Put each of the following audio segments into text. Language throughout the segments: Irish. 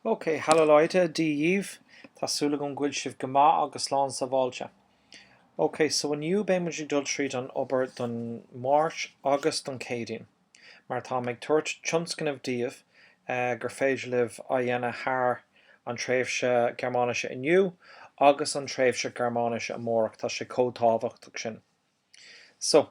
OK, Hallo Leute, Dia dhaoibh! Tá súil agam go bhfuil sibh go maith agus slán sábháilte. OK, so inniu beidh muid ag dul tríd an obair don Máirt agus don Céadaoin, mar táim ag tabhairt tionscnamh daoibh gur féidir libh a dhéanamh thar an tréimhse Gearmáinise inniu agus an tréimhse Gearmáinise amárach, tá sé chomh tábhachtach sin. So.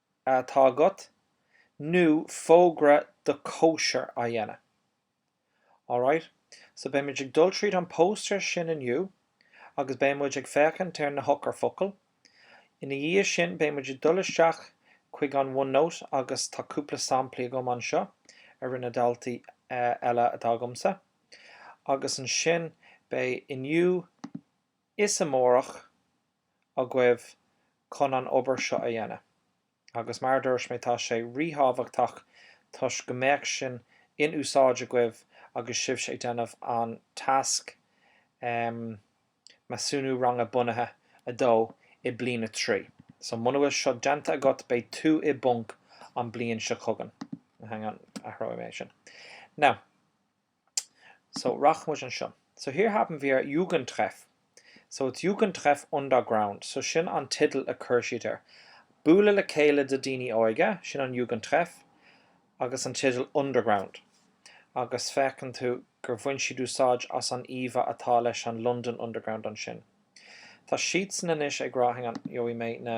atá agat, nó fógra do cóisir a dhéanamh. Alright, so beidh muid ag dul tríd an póstaer sin inniu agus beidh muid ag féachaint ar na heochairfhocail. Ina dhiaidh sin beidh muid ag dul isteach chuig an OneNote agus tá cúpla samplaí agam anseo a rinne daltaí eile atá agamsa agus ansin beidh inniu, Is amárach agaibh chun an obair seo a dhéanamh, agus mar a dúirt mé, tá sé ríthábhachtach toisc go mbeadh sin in úsáid agaibh agus sibhse ag déanamh an tasc Measúnú Ranga Bunaithe 2 i Bliain 3. So, muna bhfuil seo déanta agat, beidh tú i bponc an bliain seo chugainn. Hang on, athróidh mé sin. Now. So, rachaidh muid anseo. So, hier haben wir Jugendtreff. So, it's Jugendtreff Underground. So, sin an teideal a chuir siad air. Bualadh le chéile do daoine óige, sin an Jugendtreff, agus an teideal Underground. Agus feiceann tú gur bhain siad úsáid as an íomha atá leis an London Underground ansin. Tá siadsan anois ag rá, hang on, gheobhaidh mé na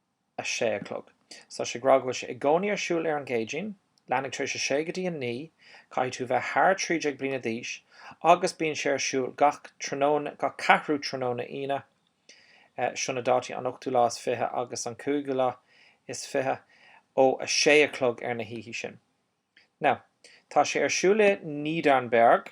a 6 a chlog. So sé ag rá go bhfuil sé i gcónaí ar siúl ar an gCéadaoin. Leathuair tar éis 6 go dtí 9, caithfidh tú bheith thar 13 bliana d'aois, agus bíonn sé ar siúl gach ceathrú tráthnóna Aoine. Sin na dátaí, an ochtú lá is fiche agus an cúigiú lá is fiche, ó a 6 a chlog ar na hoíche sin. Now, tá sé ar siúl i Niedernberg.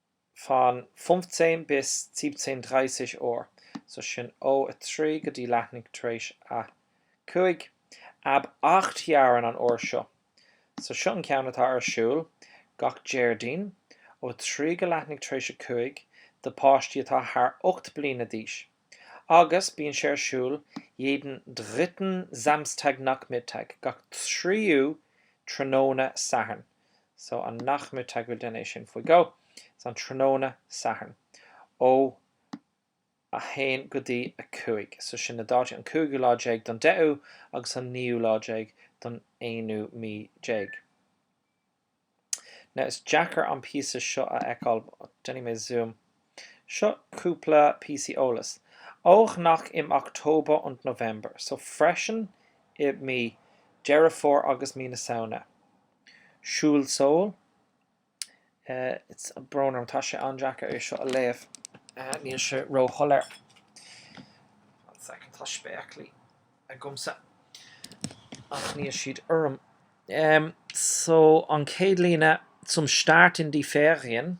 von 15 bis 17:30 Uhr, so sin ó a 3 go dtí leathuair tar éis a 5, ab acht Jahren an uair seo. So seo an ceann atá ar siúl gach Déardaoin ó 3 go leathuair tar éis a 5 do páistí atá thar 8 bliana d'aois agus bíonn sé ar siúl jeden dritten Samstagnachmittag, gach tríú tráthnóna Sathairn. so an Nachmittag, bhuel, duine é sin faoi dhó, so an tráthnóna Sathairn ó a 1 go dtí a 5, so sin na dátaí an cúigiú lá déag don deichiú agus an naoú lá déag don aonú mí déag. Now is deacair an píosa seo a fheiceáil, déanfaidh mé zoom. Seo cúpla píosaí eolais. Ó noch im Oktober und November, so freisin i mí Deireadh Fómhair agus mí na Samhna. Siúl Seoul, tá brón orm, tá sé an-deacair é seo a léamh, níl sé róshoiléir. One second, tá spéaclaí agamsa ach níl siad orm. So an chéad líne, zum Start in die Ferien.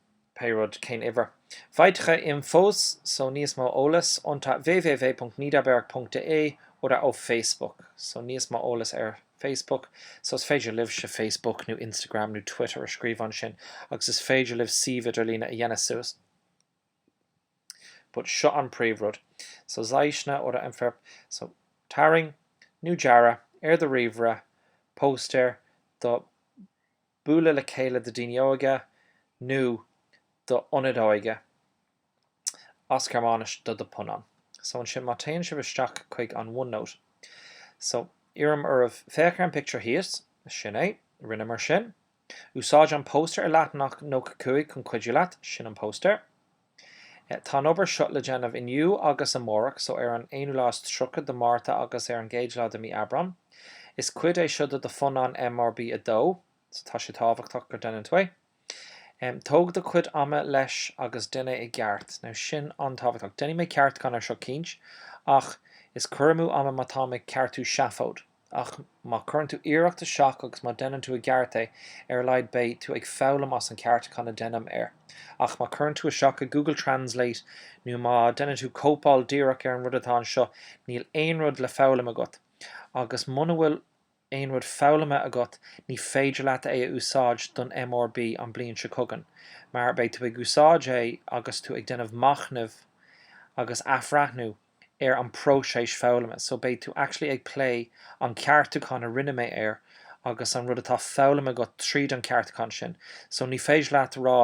Pé rud, cén uimhir? Weitere Infos, so níos mó eolas unter www.niederberg.de oder auf Facebook, so níos mó eolas ar Facebook, so is féidir libhse Facebook nó Instagram nó Twitter a scríobh ansin agus is féidir libh suíomh idirlíne a dhéanamh suas, but seo an príomh rud, so zeichne oder entwirf, so tarraing nó dearadh ar do ríomhaire póstaer do bualadh le chéile do dhaoine óige nó d'ionaid óige, as Gearmáinis do do phunann. So ansin má téann sibh isteach chuig an OneNote. So iarraim oraibh, féach ar an pictiúr thíos, sin é, rinneamar sin. Úsáid an póstaer ar leathanach 95 chun cuidiú leat, sin an póstaer. Tá an obair seo le déanamh inniu agus amárach, so ar an aonú lá is tríocha de Mhárta agus ar an gcéad lá de mí Aibreán. Is cuid é seo de do phunann MRB 2, so tá sé tábhachtach go déanann tú é. Tóg do chuid ama leis agus déan é i gceart. Now sin an-tábhachtach. Déanfaidh mé ceartúchán ar seo cinnte, ach is cur amú ama má táim ag ceartú seafóid. Ach má cuireann tú iarracht isteach agus má déanann tú i gceart é, ar a laghad beidh tú ag foghlaim as an ceartúchán a déanaim air. Ach má cuireann tú isteach i Google Translate nó má déanann tú cóipeáil díreach ar an rud atá anseo, níl aon rud le foghlaim agat. Agus muna bhfuil aon rud foghlamtha agat, ní féidir leat é a úsáid don MRB an bliain seo chugainn, mar beidh tú ag úsáid é agus tú ag déanamh machnaimh agus athbhreathnú ar an bpróiseas foghlama so beidh tú actually ag plé an ceartúchán a rinne mé air agus an rud atá foghlamtha agat tríd an ceartúchán sin so ní féidir leat rá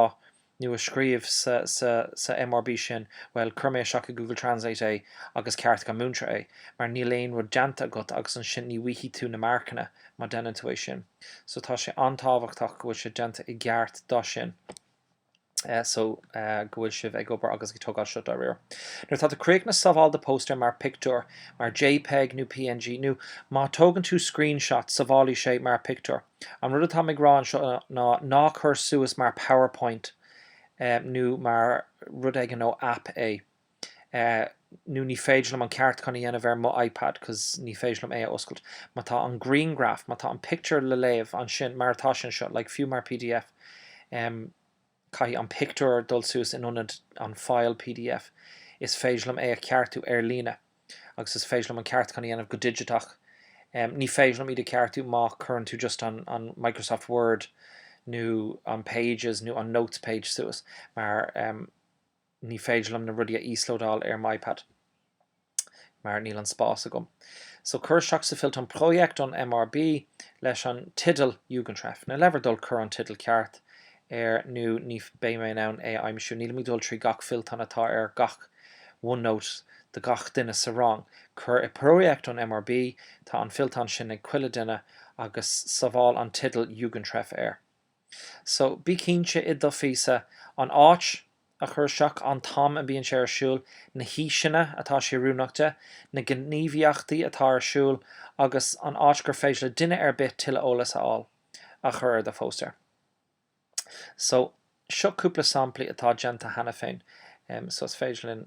nó a scríobh sa sa sa MRB sin bhuel chuir mé isteach i Google Translate é agus ceartaigh an múinteoir é mar níl aon rud déanta agat agus ansin ní bhfaighidh tú na marcanna má déanann tú é sin so tá sé an-tábhachtach go bhfuil sé déanta i gceart do sin. so go bhfuil sibh ag obair agus ag tógáil seo dáiríre. Nuair atá tú críochnaithe sábháil do póstaer mar pictiúr, mar jpeg nó png, nó má tógann tú screenshot sábhálfaidh sé mar pictiúr. An rud atáim ag rá anseo ná ná cur suas mar powerpoint nó mar rud éigin ó aip é. eh nó ní féidir liom an ceartúchán a dhéanamh ar mo iPad cos ní féidir liom é a oscailt. Má tá an grianghraf, má tá an pictiúr le léamh ansin, mar atá sé anseo, like fiú mar pdf, em caithfidh an pictiúr dul suas in ionad an file pdf. Is féidir liom é a cheartú ar líne. Agus is féidir liom an ceartúchán a dhéanamh go digiteach. Em ní féidir liom iad a cheartú má chuireann tú just an an Microsoft Word nó an Pages nó an Notes page suas mar em, ní féidir liom na rudaí a íoslódáil ar m'iPad mar níl an spás agam. So cuir isteach sa fillteán Projekt an MRB leis an tideal Jugendtreff. Now le bhur dtoil cuir an tideal ceart air nó ní beidh mé in ann é a aimsiú. Nílim ag dul trí gach fillteán atá ar gach OneNote do gach duine sa rang. Cuir i Projekt an MRB, tá an fillteán sin ag chuile duine, agus sábháil an tideal Jugendtreff air. So, bí cinnte i do phíosa, an áit a chur isteach, an t-am a mbíonn sé ar siúl, na haoiseanna atá sé oiriúnach do, na gníomhaíochtaí atá ar siúl, agus an áit gur féidir le duine ar bith tuilleadh eolas a fháil, a chur ar do phóstaer. So, seo cúpla samplaí atá déanta cheana féin, so is féidir linn.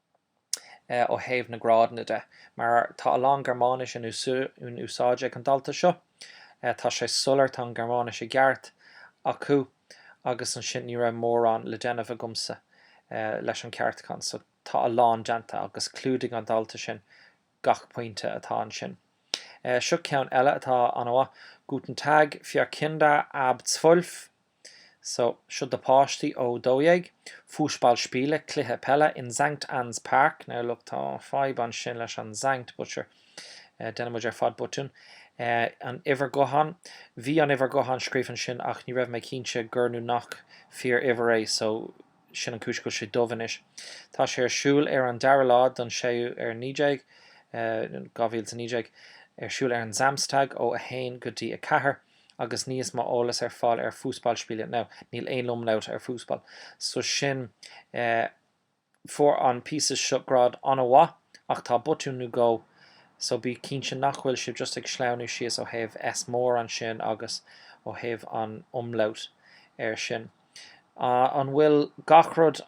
ó thaobh na grádanna de, mar tá a lán Gearmáinis in úsáid ag an dalta seo. Tá sé soiléir, tá an Ghearmáinis i gceart acu agus ansin ní raibh mórán le déanamh agamsa leis an ceartúchán, so tá a lán déanta agus clúdaigh an dalta sin gach pointe atá ansin. Seo ceann eile atá an-mhaith, Guten Tag, für Kinder ab 12. So, seo do páistí ó 12, Fußballspiele, cluiche peile, in Sankt Anns Park, now look tá fadhb ansin leis an Sankt but sure déanann muid ar fad botún, an uimhir gutháin, bhí an uimhir gutháin scríofa ansin ach ní raibh mé cinnte gurb í nó nach fíor uimhir é so sin an cúis go bhfuil sé dubh anois. Tá sé ar siúl ar an dara lá don séú ar 19, 2019, ar siúl ar an Samstag ó 1 go dtí 4. agus níos mó eolas ar fáil ar fußballspiele now níl aon umlaut ar fußball so sin eh fuair an píosa seo grád an-mhaith ach tá botún nó dhó so bí cinnte nach bhfuil sibh just ag sleamhnú síos ó thaobh S mór ansin agus ó thaobh an umlaut ansin ah an bhfuil gach rud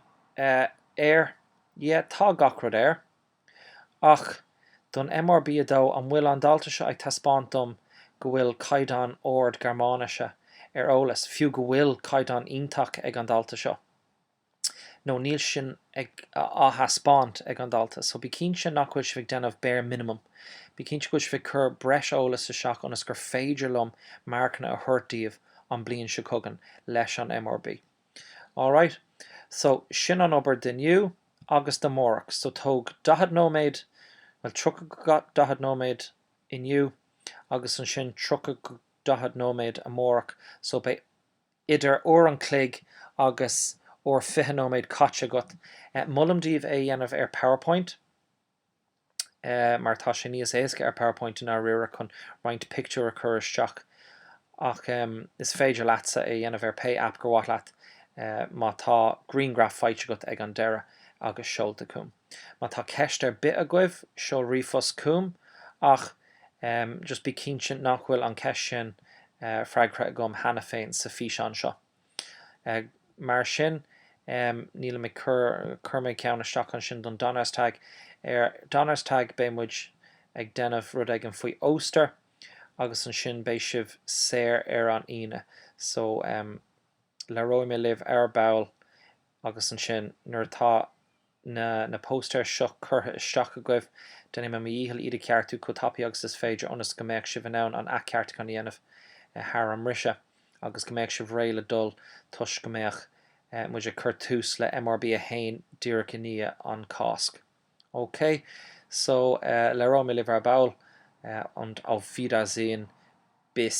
eh air yeah tá gach rud air. Ach, don MRB2, an bhfuil an dalta seo ag taispeáint dom go bhfuil caighdeán ard Gearmáinise ar eolas, fiú go bhfuil caighdeán iontach ag an dalta seo? No níl sin á thaispeáint ag an dalta. So, bí cinnte nach bhfuil sibh ag déanamh bare minimum. Bí cinnte go bhfuil sibh ag cur breis eolas isteach ionas gur féidir liom marcanna a thabhairt daoibh an bliain seo chugainn leis an MRB2. All right, so sin an obair d'inniu agus d'amárach. So tóg 40 nóiméad, bhuel 30 go 40 nóiméad inniu agus ansin 30 go 40 nóiméad amárach, so beidh idir uair an chloig agus uair 20 nóiméad caite agat. Molaim daoibh é a dhéanamh ar PowerPoint. mar tá sé níos éasca ar Powerpoint i ndáiríre chun roinnt pictiúr a chur isteach, ach is féidir leatsa é a dhéanamh ar pé aip gur mhaith leat má tá griangraf faighte agat ag an deireadh agus seolta chugam. Má tá ceist ar bith agaibh, seol ríomhphost chugam ach just bí cinnte nach bhfuil an cheist sin freagraithe agam cheana féin sa físeán seo. Mar sin, níl mé, chuir mé ceann isteach ansin don Donnerstag, ar Donnerstag beidh muid ag déanamh rud éigin faoi Oster agus ansin beidh sibh saor ar an Aoine. So, labhróidh mé libh ar ball agus ansin nuair atá. na póstaeir seo curtha isteach agaibh, déanfaidh mé mo dhícheall iad a cheartú chomh tapaidh agus is féidir ionas go mbeadh sibh in ann an athcheartúchán a dhéanamh thar an mbriseadh agus go mbeadh sibh réidh le dul toisc go mbeadh muid ag cur tús le MRB 1 díreach i ndiaidh an Cásc. OK? So, labhróidh mé libh ar ball, und auf Wiedersehen, bis.